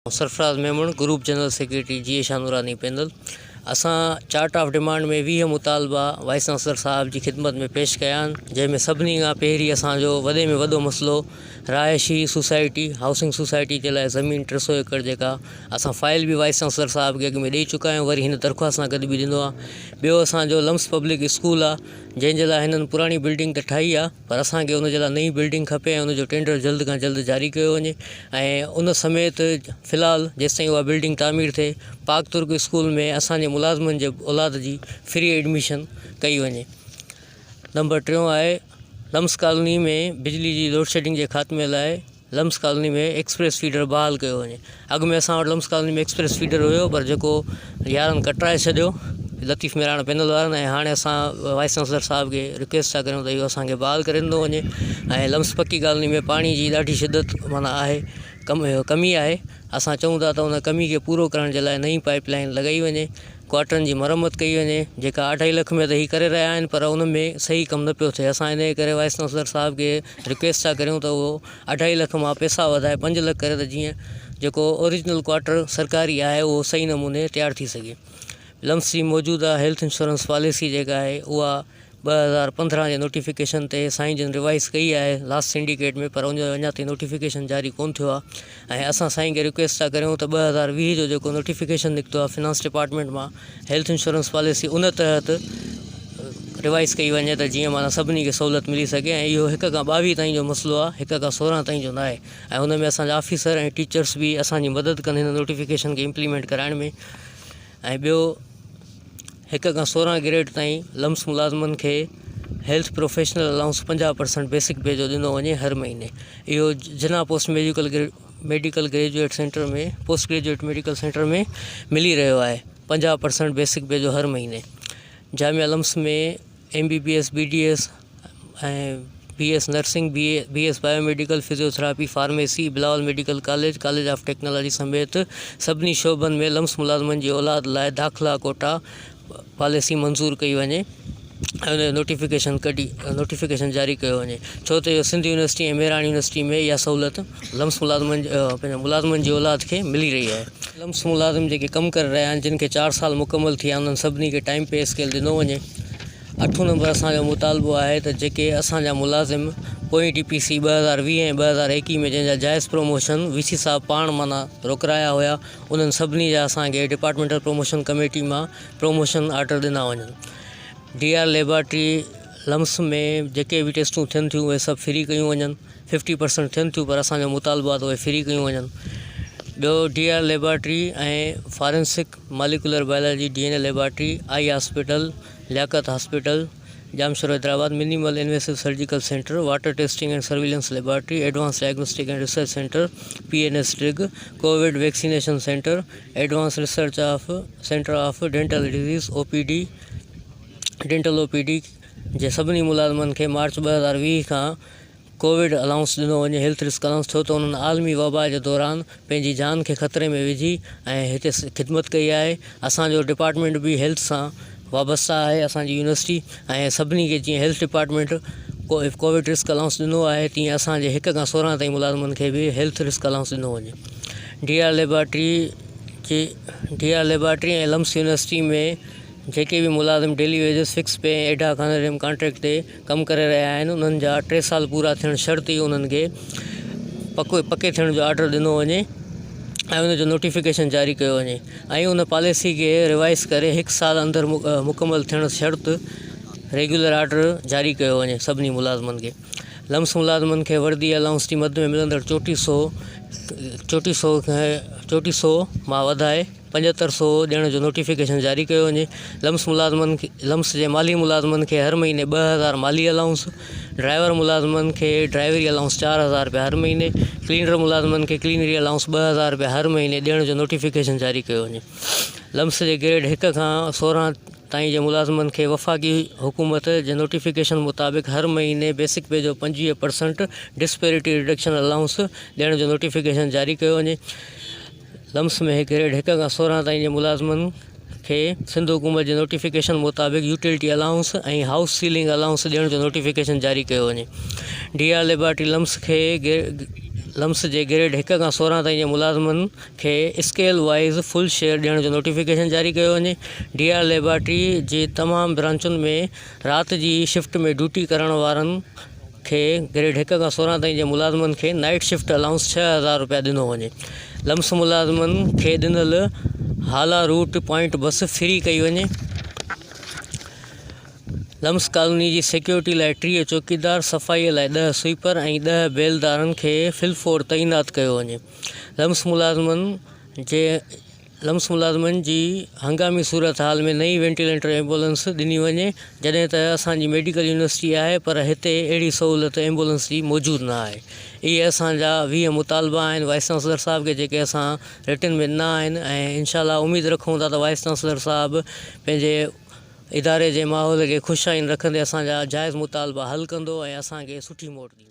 Sarfaraz Memon, group general secretary G A Shah Noorani panel, اسان charter of demand ۾ ويهه مطالبا وائيس چانسلر صاحب جي خدمت ۾ پيش ڪيا آهن جنهن ۾ سڀني کان پهرين اسان جو وڏي ۾ وڏو مسئلو رهائشي سوسائٽي هائوسنگ سوسائٽي جي لاء زمين ٽي سو ايڪڙ جيڪا اسان فائل به وائيس چانسلر صاحب کي اڳ ۾ ڏئي چڪا آهيون وري هن درخواست سان گڏ به ڏنو آهي ٻيو اسان جو لمس پبلڪ اسڪول آهي جنهن جي لاء هنن پراڻي بلڊنگ ته ٺاهي آهي پر اسان کي ان جي لاء نئين بلڊنگ کپي ۽ ان جو ٽينڊر جلد کان جلد جاري ڪيو وڃي ۽ ان سميت في الحال جيستائين اها بلڊنگ تعمير ٿئي پاڪ ترڪ اسڪول ۾ اسان جي ملازمن جي اولاد جي فري ايڊميشن ڪئي وڃي نمبر ٽيون آهي لمس ڪالوني ۾ بجلي جي لوڊشيڊنگ جي خاتمي لاء لمس ڪالوني ۾ ايڪسپريس فيڊر بحال ڪيو وڃي اڳ ۾ اسان وٽ لمس ڪالوني ۾ ايڪسپريس فيڊر هيو پر جيڪو يارن ڪٽرائي ڇڏيو لطيف ميراڻ پينل وارن ۽ هاڻي اسان وائيس چانسلر صاحب کي رڪويسٽ ٿا ڪريون ته اهو اسانکي بحال ڪري ڏنو وڃي ۽ لمس پڪي ڪالوني ۾ پاڻي جي ڏاڍي شدت مانا آهي ڪم ڪمي آهي اسان چئون ٿا ته ان ڪمي کي پورو ڪرڻ جي لاء نئي پائيپ لائين لڳائي وڃي ڪواٽرن جي مرمت ڪئي وڃي جيڪا اڍائي لک ۾ ته هي ڪري رهيا آهن پر ان ۾ صحيح ڪم نه پيو ٿئي اسان ان ڪري وائيس چانسلر صاحب کي رڪويسٽ ٿا ڪريون ته اهو اڍائي لک مان پيسا وڌائي پنج لک ڪري ته جيئن جيڪو اوريجنل ڪواٽر سرڪاري آهي اهو صحيح نموني تيار ٿي سگهي لمس جي موجوده هيلٿ انشورنس پاليسي جيڪا آهي اها ٻه هزار پندرهن جي نوٽيفڪيشن تي سائين جن ريوائيز ڪئي آهي لاسٽ سنڊيڪيٽ ۾ پر ان جو اڃا تائين نوٽيفڪيشن جاري ڪون ٿيو آهي ۽ اسان سائين کي رڪويسٽ ٿا ڪريون ته ٻه هزار ويهه جو جيڪو نوٽيفڪيشن نڪتو آهي فنانس ڊپارٽمينٽ مان هيلٿ انشورنس پاليسي ان تحت ريوائيز ڪئي وڃي ته جيئن معنيٰ سڀني کي سهولت ملي سگهي ۽ اهو هڪ کان ٻاويهه تائين جو مسئلو آهي هڪ کان سورهن تائين جو ناهي ۽ ان ۾ اسانجا آفيسر ۽ ٽيچرس به اسانجي مدد ڪن هن نوٽيفڪيشن کي امپليمينٽ ڪرائڻ ۾ ۽ ٻيو هڪ کان سورهن گريڊ تائين لمس ملازمن کي هيلٿ پروفيشنل الائونس پنجاهه پرسنٽ بيسڪ پي جو ڏنو وڃي هر مهيني اهو Jinnah post medical grade medical graduate centre ۾ post graduate medical centre ۾ ملي رهيو آهي پنجاهه پرسنٽ بيسڪ پي جو هر مهيني جامعه LUMHS ۾ M B B S B D S ۽ B S nursing, B B S bio medical, physiotherapy, pharmacy, Bilawal medical college, college of technology سميت سڀني شعبن ۾ لمس ملازمن جي اولاد لاء داخلا ڪوٽا پاليسي منظور ڪئي وڃي ۽ ان جو نوٽيفڪيشن ڪڍي نوٽيفڪيشن جاري ڪيو وڃي ڇو ته اهو سنڌ يونيورسٽي ۽ مهراڻ يونيورسٽي ۾ اها سهولت لمس ملازمن پنهنجا ملازمن جي اولاد کي ملي رهي آهي لمس ملازم جيڪي ڪم ڪري رهيا آهن جن کي چار سال مڪمل ٿي ويا آهن انهن سڀني کي ٽائيم پي اسڪيل ڏنو وڃي اٺون نمبر اسان جو مطالبو آهي ته جيڪي اسان جا ملازم پوئين ٽي پي سي ٻه هزار ويهه ۽ ٻه هزار ايڪيهه ۾ جنهن جا جائز پروموشن وي سي صاحب پاڻ معنيٰ روڪرايا هيا انهن سڀني جا اسان کي ڊپارٽمينٽل پروموشن ڪميٽي مان پروموشن آرڊر ڏنا وڃن ڊي آر ليبارٽري لمس ۾ جيڪي به ٽيسٽون ٿين ٿيون اهي سڀ فري ڪيون وڃن ففٽي پرسنٽ ٿين ٿيون پر اسان جو مطالبو آهي ته اهي فري ڪيون وڃن ٻيو D R laboratory ۽ forensic molecular biology D N A laboratory, eye hospital, Liaquat hospital, Jamshoro Hyderabad, minimal invasive surgical centre, water testing and surveillance laboratory, advance diagnostic and research centre, P N S drug, COVID vaccination centre, advance research centre of dental disease, O P D, Dental OPD، جي سڀني ملازمن کي march ٻه هزار ويهه کان Covid allowance ڏنو وڃي، هيلٿ رسڪ الائونس، ڇو ته انهن عالمي وبا جي دوران پنهنجي جان کي خطري ۾ وجهي ۽ هتي خدمت ڪئي آهي، اسان جو ڊپارٽمينٽ به هيلٿ سان وابسته آهي، اسان جي يونيورسٽي ۽ سڀني کي جيئن health department COVID risk allowance ڏنو آهي تيئن اسان جي هڪ کان سورهن تائين ملازمن کي به هيلٿ رسڪ الائونس ڏنو وڃي. ڊي آر ليبارٽري جي D R laboratory ۽ LUMHS university ۾ جيڪي به ملازم daily wages, fix pay ۽ ad hoc honorarium contract تي ڪم ڪري رهيا آهن انهن جا ٽي سال پورا ٿيڻ شرط ئي انهن کي پڪو پڪي ٿيڻ جو آرڊر ڏنو وڃي ۽ ان جو نوٽيفڪيشن جاري ڪيو وڃي ۽ ان پاليسي کي ريوائز ڪري هڪ سال اندر مڪمل ٿيڻ شرط ريگيولر آرڊر جاري ڪيو وڃي سڀني ملازمن کي لمس ملازمن کي وردي الائونس جي مد ۾ ملندڙ چوٽي سو چوٽي سو چوٽي سو مان وڌائي پنجهتر سو ڏيڻ جو نوٽيفڪيشن جاري ڪيو وڃي، لمس ملازمن لمس جي مالهي ملازمن کي هر مهيني ٻه هزار مالهي الائونس، ڊرائيور ملازمن کي ڊرائيوري الائونس چار هزار رپيا هر مهيني، ڪلينر ملازمن کي ڪلينري الائونس ٻه هزار رپيا هر مهيني ڏيڻ جو نوٽيفڪيشن جاري ڪيو وڃي، لمس جي گريڊ هڪ کان سورهن تائين جي ملازمن کي وفاقي حڪومت جي نوٽيفڪيشن مطابق هر مهيني بيسڪ پي جو پنجويهه پرسنٽ ڊسپيرٽي رڊڪشن الائونس ڏيڻ جو نوٽيفڪيشن جاري ڪيو وڃي، لمس ۾ هڪ گريڊ هڪ کان سورهن تائين جي ملازمن کي سنڌ حڪومت جي نوٽيفڪيشن مطابق utility allowance ۽ house ceiling allowance ڏيڻ جو نوٽيفڪيشن جاري ڪيو وڃي ڊي آر ليبارٽري لمس کي لمس جي گريڊ هڪ کان سورهن تائين جي ملازمن کي اسڪيل وائيز فل شيئر ڏيڻ جو نوٽيفڪيشن جاري ڪيو وڃي ڊي آر ليبارٽري جي تمام برانچن ۾ رات جي شفٽ ۾ ڊيوٽي ڪرڻ وارن کي گريڊ هڪ کان سورهن تائين جي ملازمن کي نائيٽ شفٽ الائونس ڇهه هزار رپيا ڏنو وڃي لمس ملازمن کي ڏنل Hala route point bus free ڪئي وڃي لمس ڪالوني جي سيڪيورٽي لاء ٽيهه چوڪيدار صفائي لاء ڏهه سوئپر ۽ ڏهه بيلدارن کي فل فور تعينات ڪيو وڃي لمس ملازمن جي لمس ملازمن جي هنگامي صورتحال ۾ نئين وينٽيليٽر ايمبولنس ڏني وڃي جڏهن ته اسان جي ميڊيڪل يونيورسٽي آهي پر هتي اهڙي سهولت ايمبولنس جي موجود نه آهي اهي اسان جا ويهه مطالبا آهن وائيس چانسلر صاحب کي جيڪي اسان رٽن ۾ ڏنا آهن ۽ انشاء الله اميد رکون ٿا ته وائيس چانسلر صاحب پنهنجي اداري جي ماحول کي خوش آئين رکندي اسان جا جائز مطالبا حل ڪندو ۽ اسان کي سٺي موٽ ڏيندو.